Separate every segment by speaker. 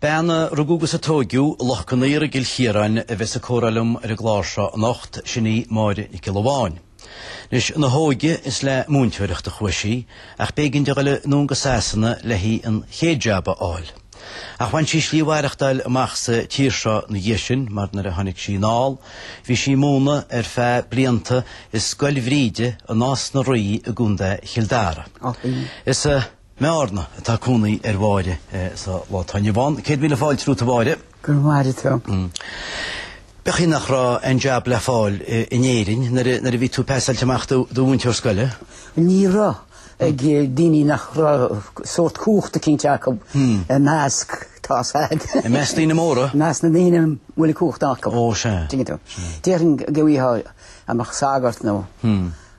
Speaker 1: Bean a rugadh agus a tóigeadh i Loch Con Aortha i gCill Chiaráin a bheas ag comhrá liom ar an gclár seo anocht, sin í Máire Nic Giolla Bháin. Anois, ina hóige is le múinteoireacht a chuaigh sí, ach b'éigean di dul anonn go Sasana le hí an chéad jab a fháil. Ach bhain sí slí mhaireachtáil amach sa tír seo ina dhiaidh sin, mar nuair a tháinig sí anall, bhí sí ag múineadh ar feadh blianta i Scoil Bhríde i Nás na Rí i gContae Chill Dara. Is. I mBearna atá cónaí ar Mháire sa lá atá inniu ann. Céad míle fáilte romhat a Mháire. Go raibh maith agat a Tom. Ab ea chaoi nach raibh aon jab le fáil in Éirinn nuair a bhí tú peasáilte amach i do mhúinteoir scoile? Ní raibh
Speaker 2: ag daoine nach raibh sórt cumhachta eicínt acu i measc, tá a fhios agat. I measc
Speaker 1: daoine móra? I measc na ndaoine a bhfuil
Speaker 2: an cumhacht acu. Ó sea.
Speaker 1: D'fhéadfainn
Speaker 2: a gcaith amach sagart nó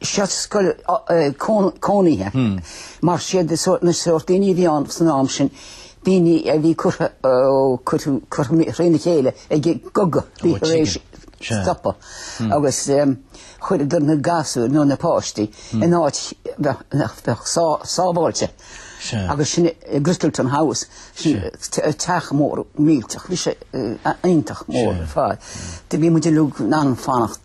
Speaker 2: seo scoil cónaithe. Mar sé an sórt daoine a bhí ann san am sin, daoine a bhí trína chéile ag an gcogadh a bhí tar éis stopadh agus chuireadar na gasúir nó na páistí in áit sábháilte agus sin i Grittleton House, sin teach mór millteach, bhí sé iontach mór ar fad. Bhí muid ag lorg an fanacht.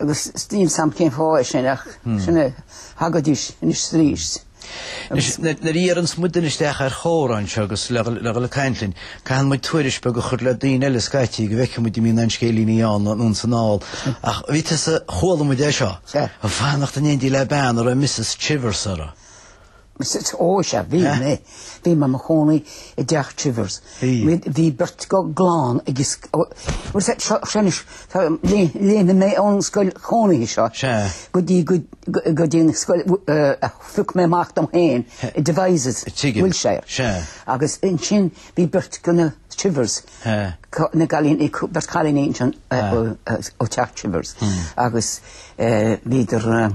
Speaker 2: agus níl a fhios agam cén fáth é sin ach
Speaker 1: sin a thagadís anois arís. Anois, nuair a iarranns muidne isteach comhráití anseo agus le dhul ag caint linn, caitheann muid tuairisc bheag a chur le daoine eile scaití go bhfeicfidh muid an mbíonn aon scéilíní ann nó ansin thall. Ach bhí tusa, chuala muid é seo, ag fanacht in éindí le bean a raibh Missus Chivers uirthi.
Speaker 2: Ó, sea, bhí mé. Bhí mé i mo chónaí i dTeach Chivers. Bhí beirt de chlann acu seo anois, léim mé ón scoil chónaithe seo go dtí go dtí an scoil a phioc mé amach dom féin i Devizes, Wiltshire. Agus ansin bhí beirt de na Chivers, na gcailíní, beirt chailíní ansin ó Teach Chivers agus bhíodar,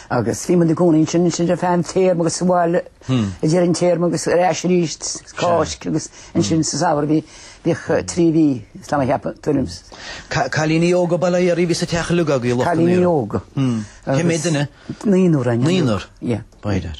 Speaker 1: Agus bhí muid
Speaker 2: inár gcónaí ansin ansin ar feadh an téarma agus sa bhaile ag deireadh an téarma agus ar ais arís Cáisc agus ansin sa Samhradh bhí bhíodh trí mhí is liom a cheapadh timpeall. Ca-
Speaker 1: cailíní óga go léir a bhí sa teach a ligeadh í lucht an Cailíní aoire. óga.
Speaker 2: Cé mhéid duine?
Speaker 1: Naonúr againn.
Speaker 2: Naonúr? Ie.
Speaker 1: B'fhéidir.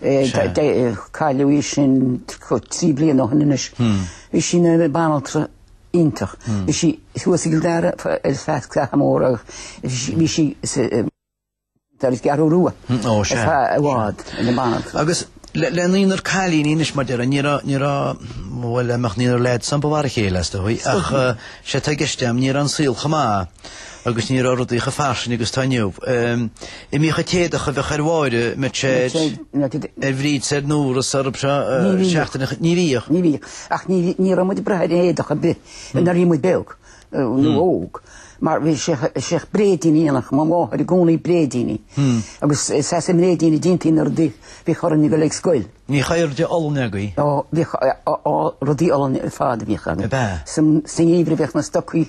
Speaker 2: Cailleadh í sin trí bliana ó shin anois. Bhí sí ina banaltra iontach. Bhí sí thuas i gCill Dara ar feadh píosa mór agus bhí sí ar an gCeathrú Rua
Speaker 1: i bhfad
Speaker 2: ina banaltra. Agus
Speaker 1: le naonúr cailíní anois mar a déarfá ní raibh, ní raibh, bhuel dá mbeadh naonúr leaids ann ba mhar a chéile is dóigh ach sé atá i gceist agam ní raibh an saol chomh maith. agus ní raibh rudaí chomh fairsing agus atá inniu. An mbíodh an t-éadach a bheadh ar Mháire, muise, ar Bhríd, ar Nóra, faoi cheann seachtaine, ní bhíodh. Ní bhíodh. Ach
Speaker 2: ní raibh muid ag brath ar éadach ar bith nuair a bhí muid beag, nó óg, mar bhí seisean bréidíní dhéanadh, mo mháthair i gcónaí bréidíní, agus is as an mbréidín a dhéantaí na rudaí bhíodh orainn ag dul ag scoil. Bhí caoirigh olann
Speaker 1: agaibh. Ó, bhíodh,
Speaker 2: á, rudaí olann ar fad a bhíodh againn. Ab ea? Sa ngeimhreadh bhíodh na stocaí.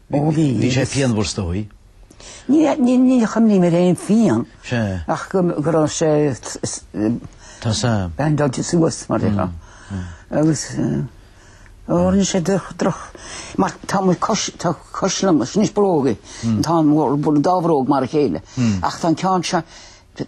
Speaker 1: Bhí sé pianmhar is dóigh.
Speaker 2: Ní chuimhním ar aon phian ach go raibh sé
Speaker 1: bean dóite
Speaker 2: suas mar sin agus tharla sé droch mar tá muid tá cois liom is níos bróga tá an dá bhróg mar a chéile ach tá an ceann seo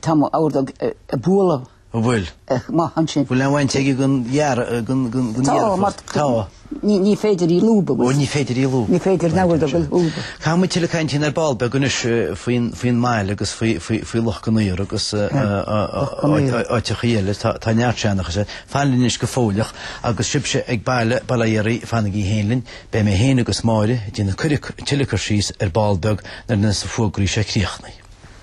Speaker 2: tá mo ordóg ag bualadh An
Speaker 1: bhfuil? Ach mar sin.
Speaker 2: Bhfuil an bhaint aige
Speaker 1: gan dhear, gan, gan, gan dhearfadh? Tá, mar, Tá. ní, ní
Speaker 2: féidir í a lúbadh. Ó, ní féidir í a lúbadh.
Speaker 1: Ní féidir namhaid a bhfuil
Speaker 2: lúb. Caithfidh muid tuilleadh caint faoi
Speaker 1: ar ball beag anois faoin, faoin mbaile agus faoi, faoi, faoi Loch Con Aortha agus, Loch Con Aortha. áiteachaí eile. Tá, tá neart seanchas air. Fan linn anois go fóilleach agus sibhse ag baile, bail ó Dhia oraibh, fanaigí féin linn. Beidh mé féin agus Máire ag déanamh cuireadh, tuilleadh cur síos ar ball beag nuair a bheas na fógraí seo críochnaithe.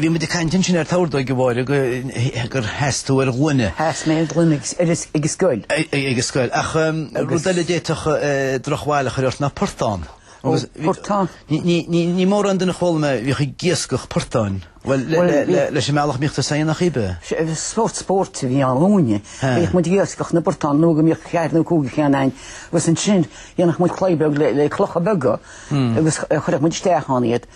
Speaker 1: Bhí muid ag caint ansin ar ar ndóigh, a Mháire, gur sheas tú ar ghloine. Sheas mé ar ghloine ag
Speaker 2: an
Speaker 1: scoil. Ag an scoil. Ach rud eile a d'fhéadfadh drochbhail a
Speaker 2: chur ort
Speaker 1: ná portán. Ó,
Speaker 2: portán.
Speaker 1: Ní mórán den fhoghlaim a bhíodh ag iascach portáin, bhuel, leis an mbealach a mbíodh tú á fháil nach ea. Sórt
Speaker 2: spóirt a bhí ann dúinne. Bhíodh muid ag iascach na bportán nó go mbíodh ceathair nó cúig de cheanna againn agus ansin dhéanadh muid claí beag le clocha beaga agus chuireadh muid isteach ann iad.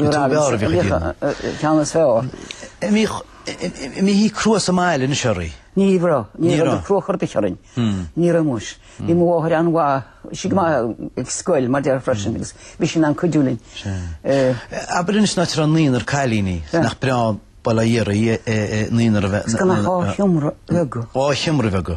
Speaker 1: An mbíodh sí crua sa mbaile anois oraibh. Ní raibh. Ní raibh.
Speaker 2: Ní raibh crua ar chor ar bith orainn. Ní raibh muis. Bhí mo mháthair an-mhaith. Bhí sí go maith ag scoil, mar a déarfá freisin, agus bhí sí in ann cuidiú
Speaker 1: linn. Abair anois an t-athair an naonúr cailíní, nach breá an bhail ag iarraidh naonúr a bheith. Is gan ach dhá sheomra
Speaker 2: bheaga. Dhá sheomra bheaga.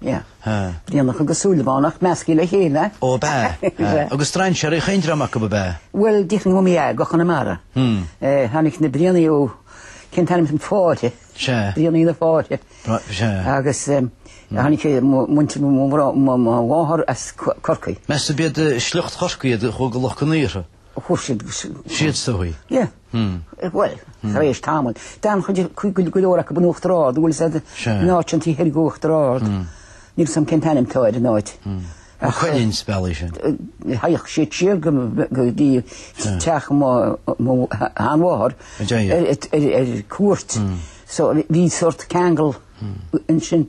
Speaker 2: Yeah. Brianach agus Súilleabhánach measctha le chéile. Ó ab ea?
Speaker 1: Eh. Agus strainséirí chaon dream acu ab ea? Bhuel, de
Speaker 2: Chonamara. Eh, tháinig na Brianaigh ó, cén t-ainm sin, Fáithe. Sea. Brianaigh
Speaker 1: na
Speaker 2: Fáithe. Bra, sea. Agus eh, tháinig eh, mo mhuintir, mo mhrá, mo, mo mháthair as Co- Corcaigh. Meas tú b'iad eh,
Speaker 1: sliocht Chorcaí iad a chuaigh go Loch Con Aortha? Chuaigh siad
Speaker 2: agus. Siad
Speaker 1: a chuaigh?
Speaker 2: Ie. Bhuel, tar éis tamaill, d'fhan cuid acu go go leor acu in Uachtar Ard, bhuel thart in áit eicínt taobh thoir d'Uachtar Ard. Níl a fhios agam cén t-ainm atá air an áit. An
Speaker 1: Cuilinn ab é sin. Thagadh
Speaker 2: siad siar go go dtí teach mo mo sheanmháthar ar ar cuairt so bhí sórt ceangal ansin.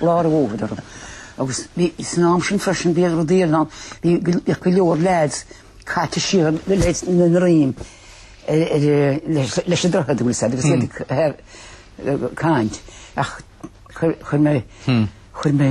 Speaker 2: lá rófhada orm agus bhí, san am sin freisin bhí rudaí ar an, bhí go leor leaids caite siar, leaids na nDream, leis an droichead an bhfuil a fhios agat agus iad ag caint ach chuir mé, chuir mé,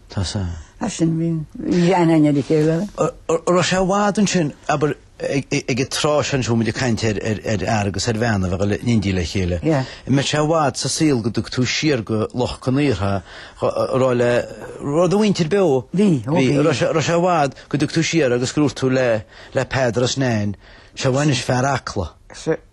Speaker 2: Tá sa.
Speaker 1: As
Speaker 2: sin bhí an aithne le chéile. Raibh sé i
Speaker 1: bhfad ansin, abair, ag an tráth sin bhfuil muid ag caint ar fhear agus ar bhean a bheadh in éindí le chéile. Mbeadh sé i bhfad sa saol go dtug tú siar go Loch Con Aortha raibh do mhuintir beo. Bhí, ó
Speaker 2: bhí. Raibh sé i
Speaker 1: bhfad go dtug tú siar agus gur dhúirt tú le Peadar is Nain, sé bhaineas fear Acla.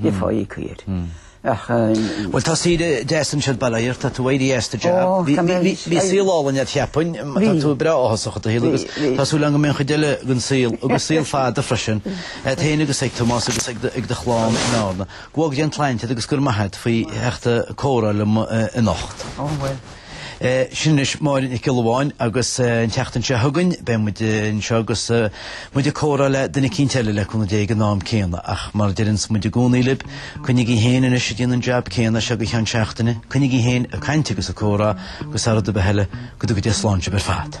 Speaker 2: le fáidh
Speaker 1: cuir. Bhuel tá saoire deas anseo bail ó Dhia air, tá tú éirithe as an jab. Bhí saol álainn agat cheapfainn, tá tú breá áthasach i do shaol agus tá súil agam go mbeidh an chuid eile den saol agus saol fada freisin agat féin agus ag Tomás agus ag do chlann in Árna. Go bhfág Dé an tsláinte agat agus go raibh maith agat faoi theacht comhrá liom anocht.
Speaker 2: Sin
Speaker 1: anois Máire Nic Giolla Bháin agus an tseachtain seo chugainn beidh muid anseo agus muid ag comhrá le duine eicínt eile le cúnamh Dé ag an am céanna ach mar a deireanns muid i gcónaí libh, coinnigí féin anois ag déanamh an jab céanna seo go cheann seachtaine, coinnigí féin ag caint agus ag comhrá agus thar rud ar bith eile, go dtuga Dia slán sibh ar fad.